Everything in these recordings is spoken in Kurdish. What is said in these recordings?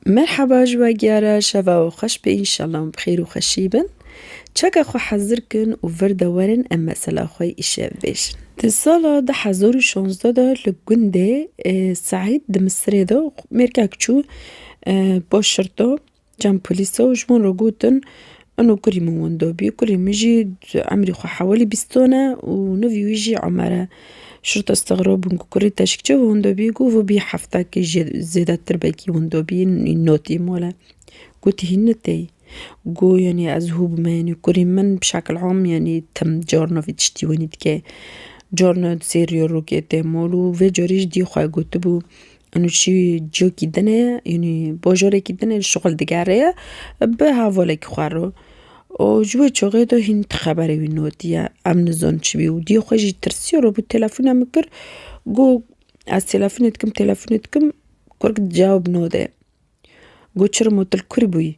Merhaba ji we giyara şeva we xweş be înşallah em bi xêr û xweşî bin. Çeka xwe hezir kin û vir de werin em mesela xwe îşev bêjin. Di sala du hezar û şazdeh de li gundê Seîd di Misirê de mêrkek çû bo şirto, cem polîso ji wan re gotin Eno kurî min wendo bî. Kurî min jî emrî xwe hewilî bîston e û nivî wî jî Omer e. Şurta stixrab bûn ku kurî teşk çi wendo bî got vû bî heftekî jê zêdetir belkî wendo bî nî notî mole. Gotî hîn ni tey. Got yanî ez hû bime yanî kurî min bi şekil am yanî tim carna vî tiştî wenî dike. Carna sêriya rokê tê mol û vê carî jî dî xwe gotibû Û çi ciyokî din e, yanî bajarekî din e şixul digere ye bi hevalekî xwe re. Û ji wê çaxê de hîn ti xeberê wî nediye. Em nizanin çibû. Diyê xwe jî tirsiya re bû telefona min kir. Got ez telefonê dikim, telefonê dikim kurk cewab nade. Got çirima tu li kur bûyî?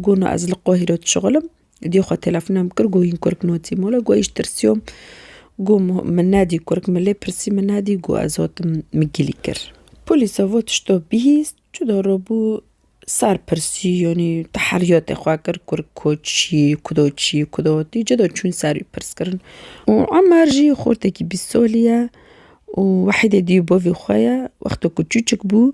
Gona ez li Qohîre dişixul im. Diyê xwe telefonem kir got hîn kurk notî mala got êş tirsiyom. Got min nedî kurk min lê pirsî min nedî got ez hatim min gilî kir. Polîsa vat tişta bihîst cuda rabû ser pirsî yanî teheriyatê xwe kir kurk ku çî kuda çî kuda hatî cuda çûn ser wî pirskirin. Û Emer jî xortekî bîst salî ye û wahîdê diyê bavê xwe ye wexta ku çûçik bû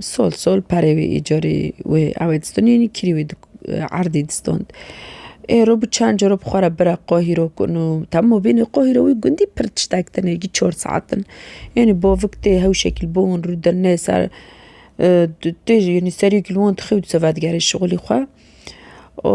Sol sol perê wî îcarî wê ewê distûn yînî kîrî wî erdî distûn. Ê ro bi çend caro bi xwe re bira qohî ro ku no tam û bînî qohî ro wî gundî pir tiştek din êgî çor saet din. Yînî bavik tê hew şekil bûn rû dir nê ser tu tê jî yînî serî kilwan dixew dise vedigerê şixulî xwe û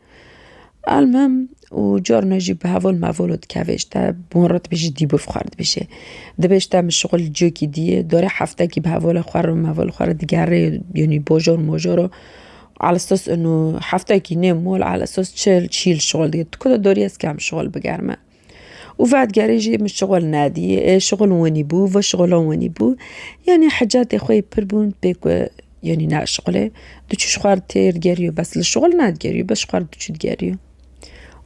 Elmim û car me jî bi hevol mevol û dikeve ji te bon re dibêje dîbûr xwe re dibêje. Dibê ji te min şixul li cihekî dî ye darê heftekî bi hevola xwe re û mevola xwe re digerê yanî bojor mojor û ala esas û heftekî nêm mol ala esas çil çîl şixul dike. Tu ku de darî ez kêm şixul bigerme. û vedigerê jî min şixul nedî ê şixul winî bû vi şixula winî bû yanî hicetê xwe yê pir bûn pê ku yanî naşixulê diçû ji xwe re tê digeriyo bes li şixul nedigerîyo bes ji xwe re diçû digeriyo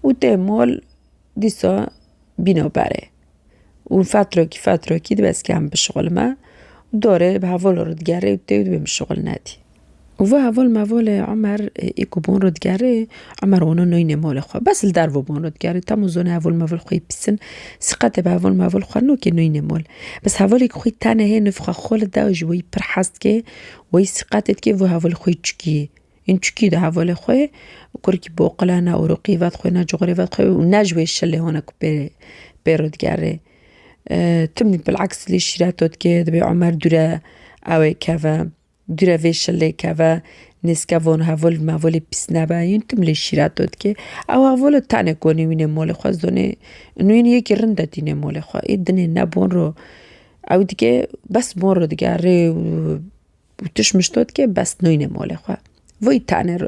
û tê mol dîsa bîna berê û fetrekî fetrekî dibe ez kêm bişixulime dorê bi hevalên re digerê û tê dibê min şixul nedî. Û ve heval mevalê Omer ê ku bûn rûdgerê, Omer wana nayînê malê xwe. Bes li derve bûn rûdgerê. Tam û zona heval meval xwe yê bîstin. Sîqetê bi heval meval xwe nokê nayînê mal. Bes hevalê ku xwî tenê hê nifxa xwe li da û ji weyî pir hez dike, weyî sîqetê dike vê hevalê xwe yê çikî yê. Yên çikî de hevalê xwe yê. Kurikî bi oqile ne ûriqî vedixwe ne cuxurê vedixwe û ne ji wê şilê hone ku pê pê rûdgerê. Tim bilexs lê şîreto dike, divê Omer dûre ew ê keve. Grevê şilê keve nêzke von hevolî mevolî pîs nebe yûn tim lê şîret do dikê. Ew hevolo tenê konî wînê molê xwe zonê ûn wîn yekî rind de dînê molê xwe. Ê dinê ne bon ro ew dikê bes bon ro digerê û tişt mişt do dikê bes nûynê molê xwe. Voyî tenê ro.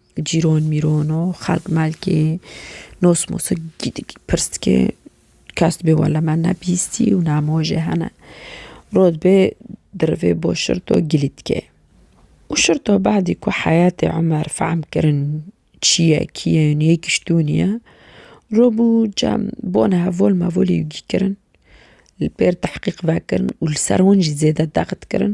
Cîron mîron û xelk melkê nos mosa pirs dike kes dibê wele me ne bîstî û ne hema jê hene. Roj dibê di rivê bo şirto gilî dike. Û şirto bedî ku heyetê Omer fehm kirin çi ye kî ye û niyê giştûnî ye robû cem bon hevol mevolî wî kirin li pêr tehqîq vekirin û li ser wan jî zêde dext kirin.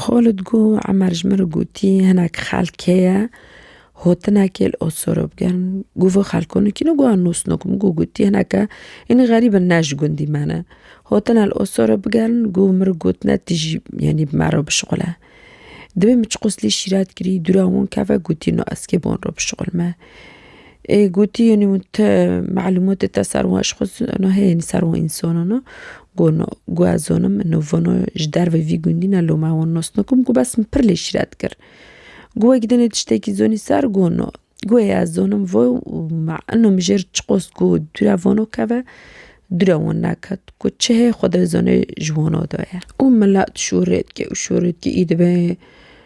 Xwe li dû Emer ji min re gotî, hinek xelk heye hotinekê li Osorê bikin. Got vê xelko nikîne got ez nûsno kim. Got gotî hineke hîn xerîb in ne ji gundî me ne. Hotine li Osorê bikin got min re gotine tu jî yenî bi me re bişuxile. Divê min çi qoslî şîret kirî dûra wan keve gotî no ez kê bi wan re bişuxilme. Ê gotî yenî min te malûmatê te ser wan ji xwe zana heye yenî ser wan însanan e gono gu ez zanim min navana ji derve vî gundî ne loma wan nas nakim gu bes min pir lê şîret kir. Gu wekî dinê tiştekî zanî ser gono gu heye ez zanim vo û ma ina mijêr çiqas gu dûre vana keve dûre wan neket gu çi heye xwedizane ji wana de ye. Û mele dişûrêtke û şûrêtke î dibe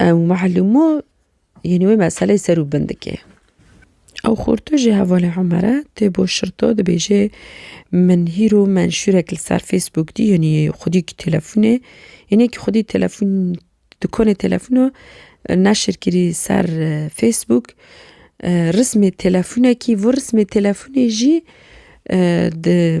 Ew mehlûmo yên wê meseleyê ser û bin dike. Ew xorto jê hevalê Umere tê bo şirto dibêje min hîro menşûrek li ser Facebook dî yenî xwedî ki telefonê yenê ki xwedî telefon dikonê telefono neşir kirî ser Facebook rismê telefonekî vur rismê telefonê jî di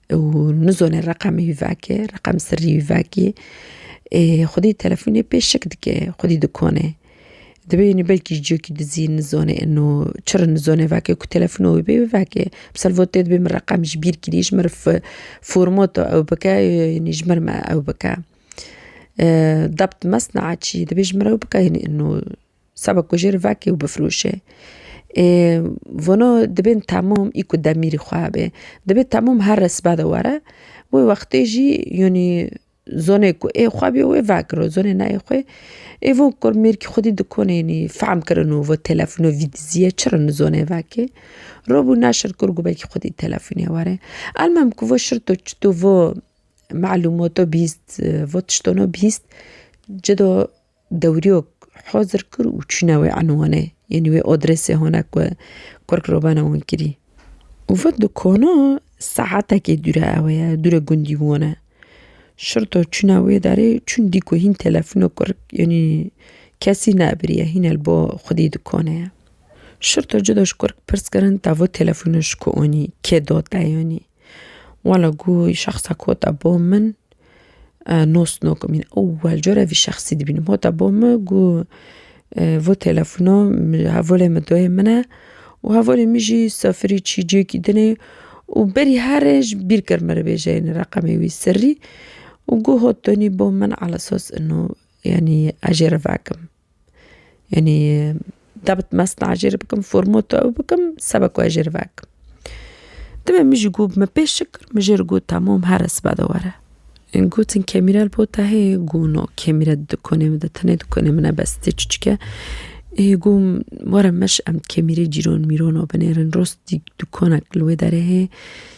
Nizone reqemê wî veke, reqem sirrî wî vekê. Xwedî telefonê pê şik dike, xwedî dikone. Divê wî belkî ji ciyekî dizî nizone ino çi re nizone veke ku telefona wî bê veke. Bi salvotê divê min reqem ji bîr kirî ji min re fi formoto ew bike yanî ji min re me ew bike. Debt mesna çî divê ji min re ew bike yanî ino. Seba ku jêr vekê û bifroşê. Ê vano dibên temam î ku demîrî xwe hebe. Dibê temam her resme de were. Wê wextê jî yanî zonê ku ê xwe bîyo wê vekiro. Zonê neyê xwe ê von kir. Mêrkî xwedî dikonê yanî fehm kirino û telefono vî dizîye çirin zonê vekê. Robû neşir kir gobekî xwedî telefonê were. Elmam ku vo şirto çito vo malûmato bîst vo tiştono bîst ci do. Dewriyok hazir kir û çûne wê enwanê, yanî wê adresê hane ku kurk re bene winkirî. Û vit dukana saetekê dûre ew ye, dûre gundî wan e. Şirto çûne wê derê, çûn dî ku hîn telefona kurk yanî kesî neabiriye, hîne li ba xwedî dukanê ye. Şirto cida ji kurk pirs kirin tevot telefona ji ku anî, kê da te yanî. Wala ku şexsa ku hate bo min nosnokim in. Ewwel cara vî şexsî dibînim. Hate bo min ku vê telefona hevalê min dayê min e û hevalê min jî sefirî çî cêkî din e û berî here ji bîr kir min re bêje ini reqemê wî sirrî û goh hat danî bo min ala esas ino yanî ez jê re vekim. Yanî dewt mezin a jê re bikim formotu ew bikim seba ku ez jê re vekim. Dibê min jî got min pê şik kir min jê re got temam here sibe de were. Em gotin kemîre li bo te heye got na kemîre di dikonê min de tenê dikonê min e bes tê çiçike ê got were meş em kemîrê cîran mîrana binêrin rastî dikonek li wê derê heye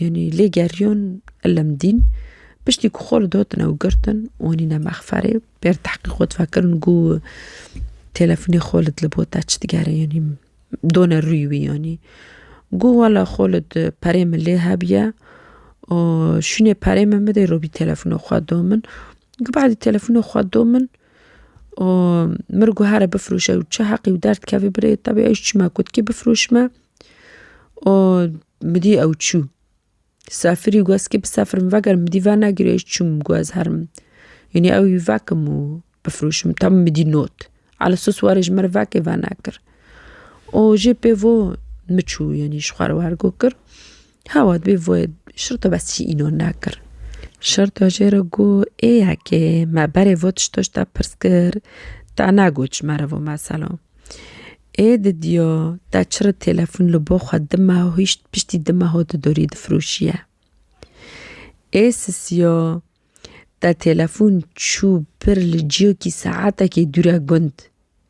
Yanî lê geriyon ilm dîn. Piştî ku xwe li dot ne û girtin û anîne mexferê bêr tehqîq û difekirin ku telefonê xwe li li bo te çi digere yanî done rûyê wî yanî. Ku wela xwe li di perê min lê hebûye û şûnê perê min bidê robî telefonê xwe do min. Ku behdî telefonê xwe do min û min ku here bifirûşe û çi heqî û derdkevê birê tevî ew ji çima gotkê bifirûşme. û min dît ew çû. Sefirî got eskî bi sefir min veger min dî vernegirê ez çûm got ez herim yanî ew wî vekim û bifirûşim tam min dî not ala sos warê ji min re vekê vernekir û jê pêvo min çû yanî ji xwe re wergo kir. Hewa dibê vê şirto bes çî îno nekir. Şirto jê re got ê yekê me berê vê tişto ji te pirs kir te negot ji me re vê mesela. Ê didiyo te çirê têlefon li bo xwe dime hişt piştî dime ho tu dorî difirûşiye. Ê sisiyo te têlefon çû bir li ciyokî saetekî dûre gund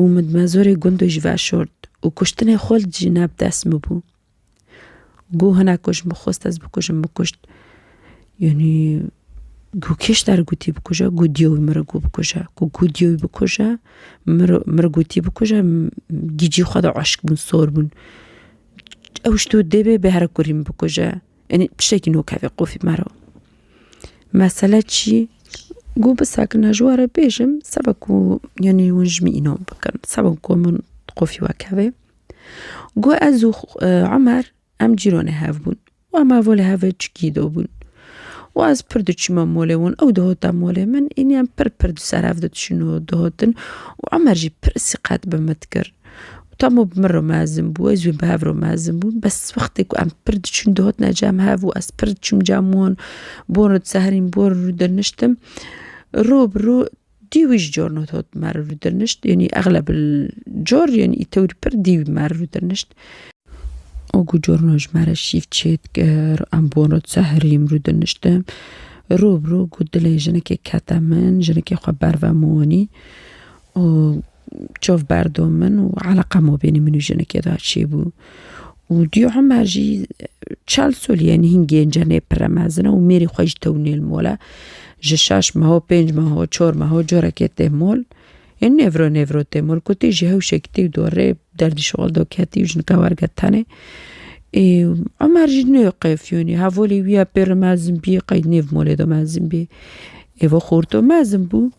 û min mezorê gundu jî veşort û kuştinê xwe li dijî ne bi dest min bû. Goh hinek ku ji min xwest ez bikujim min kuşt. Yanî goh kê ji te re gotî bikuje? Goh diyê wî min re got bikuje. Ku goh diyê wî bikuje min re min re gotî bikuje gîcî xwe de aşik bûn sor bûn. Ew ji to dê bê bêhere kurî min bikuje. Enê tiştekî no kevê qûfî me re. Mesele çi ye? Got bi sakina ji we re bêjim seba ku yanî hûn ji min înan bikin. Seba ku min qûfî we kevê. Got ez û Emer em cîranê hev bûn. Emer volê hev e çikî de bûn. Û ez pir diçûme malê wan. Ew dihata malê min, înî em pir pir di ser hev de diçûn û dihatin. Û Emer jî pir siqet bi min dikir. Tamo bi min re mezin bû, ez jî bi hev re mezin bûm. Bes wextê ku em pir diçûn dihotina cem hev û ez pir diçûm cem wan, bon re diseherîm, bon re rûdirniştim. Rû bi rû dî wî ji cor hat me re rûdirnişt. Yanî exleb li cor yanî tewr pir dî wî me re rûdirnişt. Û ku corna ji me re şîv çêdikir, em bon re diseherîm, rûdirniştim. Rû bi rû ku dilê jinekê kete min, jinekê xwe ber ve min wanî û Çav berdo min û eleqa mabênê min û jinekê de çêbû û dûyê Omer jî çel sol yên hîn gênc e nê pire mezin e û mêrî xwe jî tewinê li mol e. Ji şeş meho, pênc meho, çar meho carekê tê mol. Yên nêvro nêvro tê mol. Ku tê jî hewşekî tê da rê derdî şixul da ketî û jinika werge tenê. Ê Omer jî nê qeyfiyonî hevalê wî ye pêro mezin bî qey nêv molê de mezin bî. Êva xorto mezin bû.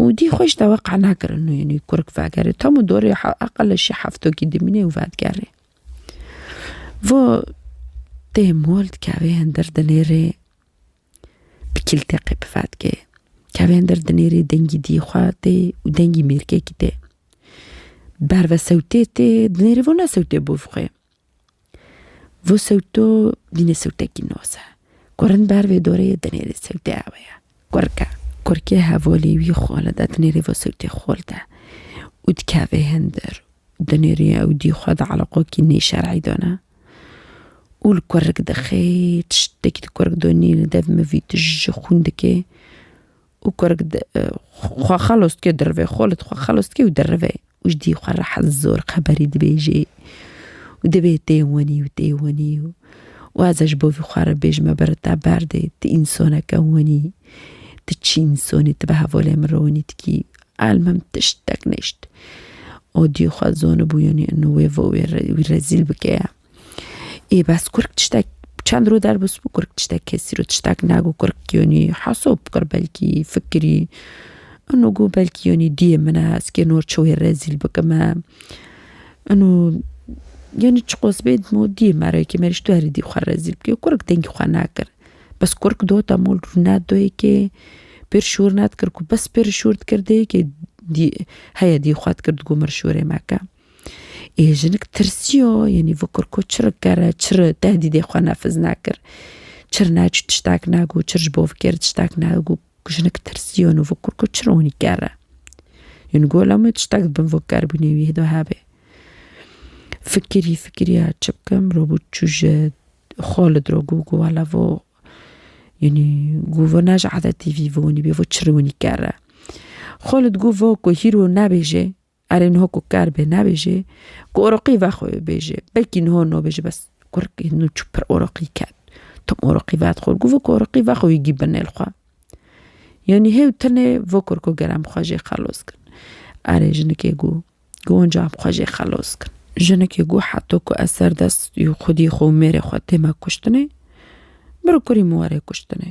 û dî xweş dawa qana kirin û yenî kurk vegerê tam û dorê eqele şî heftokî dimînê û vedigerê. Vo tê mol dikevê hindir dinêrê bi kîlteqê bi vedikê. Kevê hindir dinêrê dengî dî xwe tê û dengî mêrkekî tê. Berve sewtê tê dinêrê vo ne sewtê bû vixwê. Vû sewto dînê sewtekî noz e. Ku rind ber vê dorê dinêrê sewtê ewe ye. Kurk e. Kurkê hevalî wî xole de dinêrê vê sewtê xol de û dikeve hindir. Dinêrê ew dî xwe di eleqokî nêşer'î de ne û li kurk dixê. Tiştekî di kurk de nîne dev mivî tu ji xwîn dikê û kurg xwe xelos dike dirivê xwe li xwe xelos dike û dirivê û ji dî xwe rehet zor xeberî dibêjê û dibê tê wenî û tê wenî û û ez e ji bo vî xwe re bêjim me bere te berdê tu însaneke wenî tu çi însanî tu bi hevalên min re wenî dikî elmim tiştek nişt û dî xwe zanibû yanî wê wê rezîl bike. Ê bes kurk tiştek çend rû derbus bû kurk tiştek kesî rû tiştek nagu kurk yonî hesob bikir belkî fikirî û gu belkî yonî diyê min e ez kêno çi wê rezîl bikim e û yonî çi qos bê dimo diyê me re yekê me rîşto herî dî xwe rezîl bikê kurk dengî xwe nekir bes kurk do te mol rû nedo yekê pir şûr nedikir ku bes pir şûr dikir dê yekê dî heye dî xwe dikir digo min şûrê meke. Ê jinik tirsiya yenî vikir ku çi ri kere, çi ri tehdîdê xwe nefiz nekir. Çi ri ne tiştek negot, çi ri ji bo vê kêrê tiştek negot. Jinik tirsiya nu vikir ku çi ri hûnî kere. Yenî gola min tiştek di bin vê kerbûnê wî de hebe. Fikirî fikirî ya çi bikim rûbû çû ji Xalid re got ku wela vo yenî got vo ne ji edetî vî vonî bê vo çi ri hûnî kere. Xalid got vo ku hîro nebêje Erê niho ku ker bê nebêjê ku oroqî ve xwe bêjê. Belkî niho no bêjê bes kurikê nû çû pir oroqî ket. Tom oroqî ve dixwe gûvo ku oroqî ve xwe wîgî bi nêl xwe. Yanî hê û tenê vo kur ku ger em xwe jê xelos kin. Erê jinikê gû gû winca em xwe jê xelos kin. Jinikê gû heto ku ez ser dest û xwedî xwe û mêrê xwe tême kuştinê, bir kurî min were kuştinê.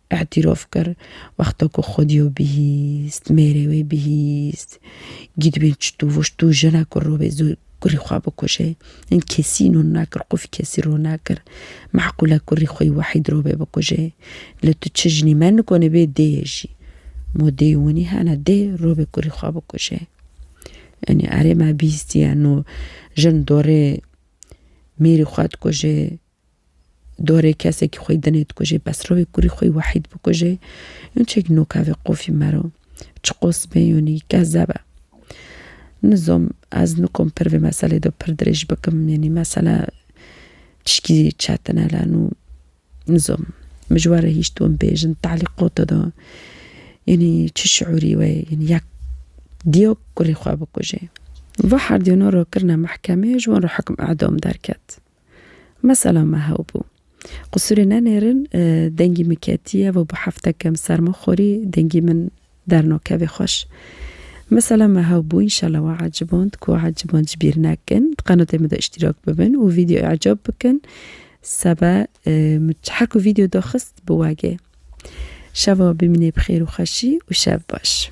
Îtîrof kir, Wexta ku Xwedîyo bihîst, mêrê wê bihîst, gîdbîn çitû vuştû jina ku rûbê zû kurî xwe bikuje. Hin kesî nûn nakir, qûfî kesî rû nakir. Meqûl e kurî xwî wehîd rûbê bikuje. Lê tu çi jinî me nikonî bê dêyê jî. Mo dêyê winî hene dê rûbê kurî xwe bikuje. Yanî erê me bihîstîye nû jin dorê mêrî xwe dikuje. Dorê kesekî xweyî dinê dikujê, bes rovê kurî xweyî wehîd bikujê, yon çek noka vê qofî mero. Çi qosibê yonî, gezeb e. Nizom, ez nikom pir vê meselê do pir dirêj bikim, yenî mesele tişkî çetin e la nû nizom. Min ji we re hîşt win bêjin, telîqota do, yenî çi şiûrî we ye, yenî yek diyo kurê xwe bikujê. Va herdiyona ro kirine mehkemê, ji wan re hukm edam derket. Mesela me hewbû. Qisûrê nenêrin dengî min ketiye û bi heftekem serma xwirî dengî min dernakevê xweş. Mesela me hewbû înşela we eciband ku eciband ji bîr nekin di qenatê min de îştîrak bibin û vîdyoyê ecab bikin sebe min her ku vîdyo daxist biwegê. Şeva bimînê bi xêr û xweşî û şev baş.